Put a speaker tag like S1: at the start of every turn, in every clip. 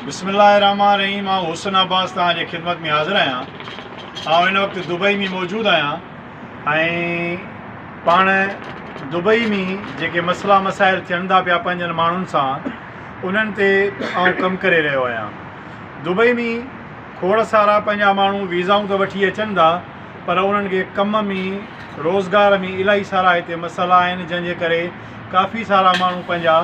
S1: بسم الله الرحمٰن الرحيم آئون حسن عباس توهان جي خدمت ۾ حاضر آهيان آئون هن وقت دبئي ۾ موجود آهيان ۽ پاڻ دبئي ۾ جيڪي مسئلا مسائل ٿين ٿا پيا پنهنجن ماڻهن سان انهن تي آئون ڪم ڪري رهيو آهيان دبئي ۾ کوڙ سارا پنهنجا ماڻهو ويزائون ته وٺي اچن ٿا پر انهن کي ڪم ۾ روزگار ۾ الاهي سارا هتي مسئلا آهن جنهن جي ڪري ڪافي سارا ماڻهو پنهنجا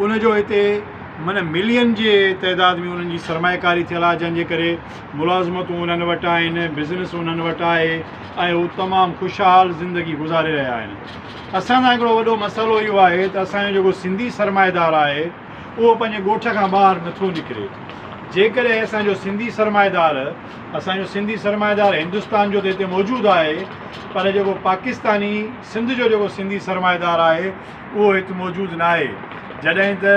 S1: ان جو هتي معنيٰ ملين جي تعداد ۾ انهن جي سرمائي ڪاري ٿيل آهي جنهن جي ڪري ملازمتون انهن وٽ آهن بزنس انهن وٽ آهي ۽ هو تمام خوشحال زندگي گذاري رهيا آهن اسان سان هڪڙو وڏو مسئلو اهو آهي ته اسان جو جيڪو سنڌي سرمائيدار آهي اهو پنهنجي ڳوٺ کان ٻاهر نٿو نڪري جيڪڏهن اسان جو سنڌي سرمائيدار اسان جو سنڌي سرمائيدار هندستان جو ته هتي موجود آهي پر جيڪو پاڪستاني سنڌ جو جيڪو سنڌي سرمائيدار آهي اهو هت موجود ناهي جڏهن ته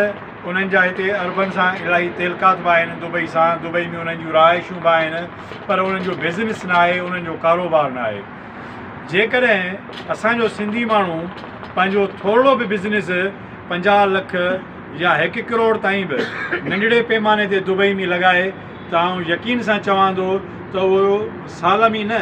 S1: انهن جا هتي عربن سان الاهي تعلقات به آهن دبئي سان دبئي ۾ انهن جون رهائشون به آهن پر انهن جو بزنس ناهي انهن جو ڪاروبار ناهي جيڪڏهن اسان جو سنڌي ماڻهو پنهنجو ٿورڙو به بزنس پنجاهه لک يا هڪ ڪروڙ تائين به ننڍڙي پيماني تي دبئي ۾ لڳائي ته آئون يقين سان چوان ٿو ته اهو سال ۾ نه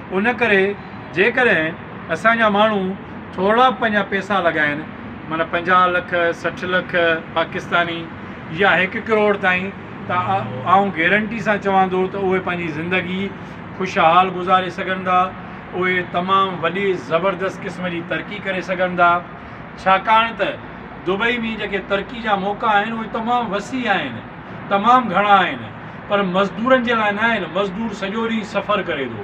S1: ان ڪري جيڪڏهن اسان جا ماڻهو ٿورڙا پنهنجا پئسا لڳائين معنيٰ پنجاهه لک سٺ لک پاڪستاني يا هڪ ڪروڙ تائين ته آئون گيرنٽي سان چوان ٿو ته اهي پنهنجي زندگي خوشحال گذاري سگهن ٿا اهي تمام وڏي زبردست قسم جي ترقي ڪري سگهن ٿا ڇاڪاڻ ته دبئي ۾ جيڪي ترقي جا موقعا آهن اهي تمام وسيع آهن تمام گهڻا آهن پر مزدورن جي لاء نه آهن، مزدور سڄو ڏينهن سفر ڪري ٿو،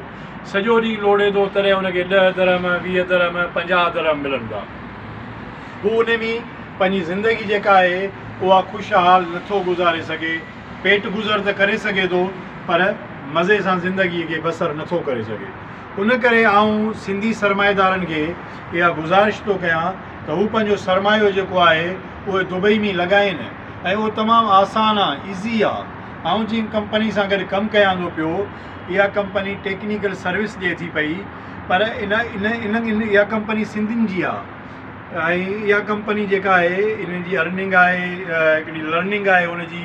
S1: سڄو ڏينهن لوڙهي ٿو تڏهن ان کي ڏهه درهم، ويهه درهم، پنجاهه درهم ملن ٿا. هو انهي ۾ پنهنجي زندگي جيڪا آهي اها خوشحال نه ٿو گذاري سگهي، پيٽ گذر ته ڪري سگهي ٿو پر مزي سان زندگي کي بسر نه ٿو ڪري سگهي. ان ڪري آئون سنڌي سرمائيدارن کي اها گذارش ٿو ڪيان ته هو پنهنجو سرمايو جيڪو آهي اهي دبئي ۾ لڳائين، ۽ اهو تمام آسان آ Easy آ آئون جنهن ڪمپني سان گڏ ڪم ڪيان ٿو پيو اها ڪمپني ٽيڪنيڪل سروس ڏي ٿي پئي پر ان ان ان ان اها ڪمپني سنڌين جي آ ۽ اها ڪمپني جيڪا آهي ان جي Earning آهي هڪڙي Learning آهي ان جي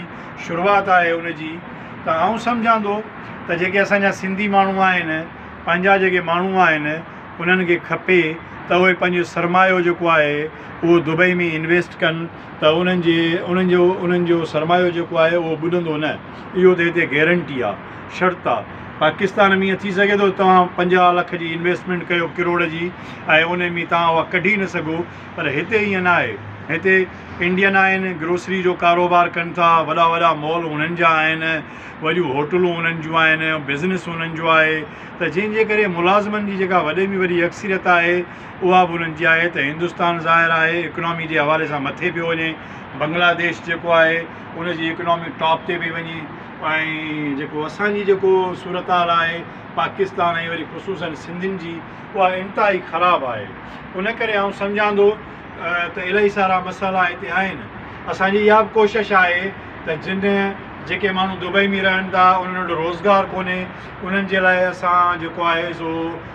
S1: شروعات آهي ان جي ته آئون سمجهان ٿو ته جيڪي اسانجا سنڌي ماڻهو آهن پنهنجا جيڪي ماڻهو آهن انهن کي کپي ته اهي پنهنجو سرمايو جيڪو آهي اهو دبئي ۾ Invest ڪن ته انهن جي انهن جو انهن جو سرمايو جيڪو آهي اهو ٻڏندو نه اهو ته هتي گيرنٽي آ شرط آ پاڪستان ۾ ايئن ٿي سگهي ٿو توهان پنجاهه لک جي انويسٽمينٽ ڪيو ڪروڙ جي ۽ انهي ۾ توهان اها ڪڍي نه سگهو پر هتي ايئن نه آهي هتي انڊين آهن گروسري جو ڪاروبار ڪن ٿا وڏا وڏا مال انهن جا آهن وڏيون هوٽلون انهن جون آهن بزنس انهن جو آهي ته جنهن جي ڪري ملازمن جي جيڪا وڏي ۾ وڏي اڪثريت آهي اها به انهن جي آهي ته هندستان ظاهر آهي اڪنامي جي حوالي سان مٿي پيو وڃي بنگلا ديش جيڪو آهي ان جي اڪنامي ٽاپ تي پئي وڃي ۽ جيڪو اسان جي جيڪو صورتحال آهي پاڪستان ۽ وري خصوصا سنڌين جي اها انتهائي خراب آهي ان ڪري آئون سمجهان ٿو ته الاهي سارا مسئلا هتي آهن اسان جي اها به ڪوشش آهي ته جن جيڪي ماڻهو دبئي ۾ رهن ٿا انهن وٽ روزگار ڪونهي انهن جي لاء اسان جيڪو آهي سو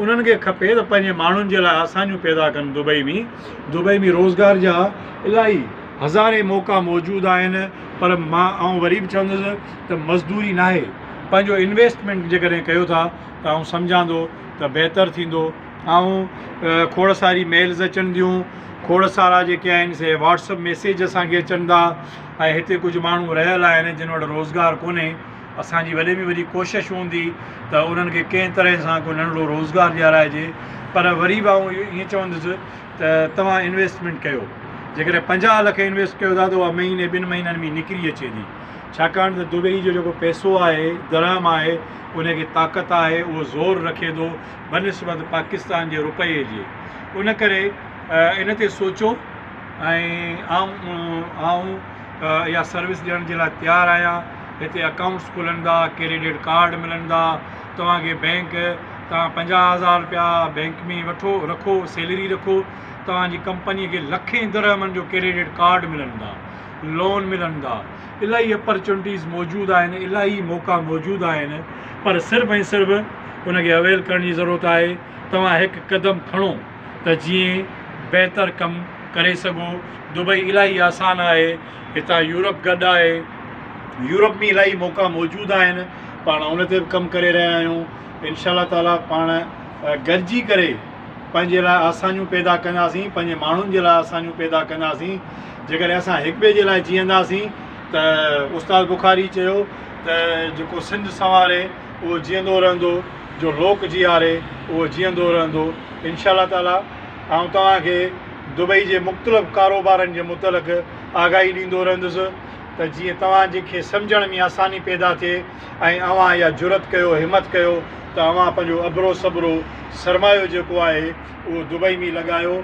S1: انهن کي کپي ته پنهنجي ماڻهن جي لاء آسانيون پيدا ڪن دبئي ۾ دبئي ۾ روزگار جا الاهي هزارين موقعا موجود آهن پر مان آئون وري به چوندس ته مزدوري ناهي پنهنجو انويسٽمينٽ جيڪڏهن ڪيو ٿا ته آئون سمجهان ٿو ته بهتر ٿيندو آئون کوڙ ساري ميلز اچن ٿيون کوڙ سارا جيڪي آهن سي واٽسپ ميسيج اسانکي اچن ٿا ۽ هتي ڪجهه ماڻهو رهيل آهن جن وٽ روزگار ڪونهي اسان جي وڏي ۾ وڏي ڪوشش هوندي ته انهن کي ڪنهن طرح سان ڪو ننڍڙو روزگار ڏيارائجي پر وري به آئون اهو ائين چوندس ته توهان انويسٽمينٽ ڪيو جيڪڏهن پنجاهه لک انويسٽ ڪيو ٿا ته اها مهيني ٻن مهينن ۾ نڪري اچي ٿي ڇاڪاڻ ته دبئي جو جيڪو پئسو آهي درهم آهي ان کي طاقت آهي اهو زور رکي ٿو بنسبت پاڪستان جي روپئي جي ان ڪري ان تي سوچو ۽ آئون آئون اها سروس ڏيڻ جي لاء تيار آهيان هتي اڪائونٽس کلندا، ڪريڊٽ ڪارڊ ملندا، توهان کي بينڪ تان پنجاهه هزار رپيا بينڪ ۾ وٺو رکو سيلري رکو توهان جي ڪمپني کي لکين درهمن جو ڪريڊٽ ڪارڊ ملندا، لون ملندا، الاهي اپرچونٽيز موجود آهن، الاهي موقعا موجود آهن پر صرف ۽ صرف ان کي اويل ڪرڻ جي ضرورت آهي، توهان هڪ قدم کڻو ته جيئن بهتر ڪم ڪري سگهو، دبئي الاهي آسان آهي. هتان يورپ گڏ آهي. يورپ ۾ الائي موقعا موجود آهن پاڻ ان تي به ڪم ڪري رهيا آهيون انشاء الله تعالٰي پاڻ گڏجي ڪري پنهنجي لاء آسانيون پيدا ڪنداسين پنهنجي ماڻهن جي لاء آسانيون پيدا ڪنداسين جيڪڏهن اسان هڪ ٻئي جي لاء جيئنداسين ته استاد بخاري چيو ته جيڪو سنڌ سنواري اهو جيئندو رهندو جو لوڪ جياري اهو جيئندو رهندو انشاء الله تعالٰي آئون توهان کي دبئي جي مختلف ڪاروبارن جي متعلق آگاهي ڏيندو رهندس ته جيئن توهان جي کي سمجهڻ ۾ آساني پيدا ٿئي ۽ اوهان اها جرئت ڪيو همت ڪيو ته اوهان پنهنجو اڀرو سڀرو سرمايو جيڪو آهي اهو دبئي ۾ لڳايو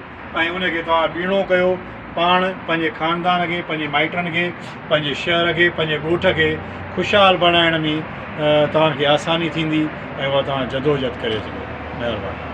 S1: ۽ ان کي توهان ٻيڻو ڪيو پاڻ پنهنجي خاندان کي پنهنجي مائٽن کي پنهنجي شهر کي پنهنجي ڳوٺ کي خوشحال بڻائڻ ۾ توهان کي آساني ٿيندي ۽ اها توهان جدوجهد ڪري سگهو مهرباني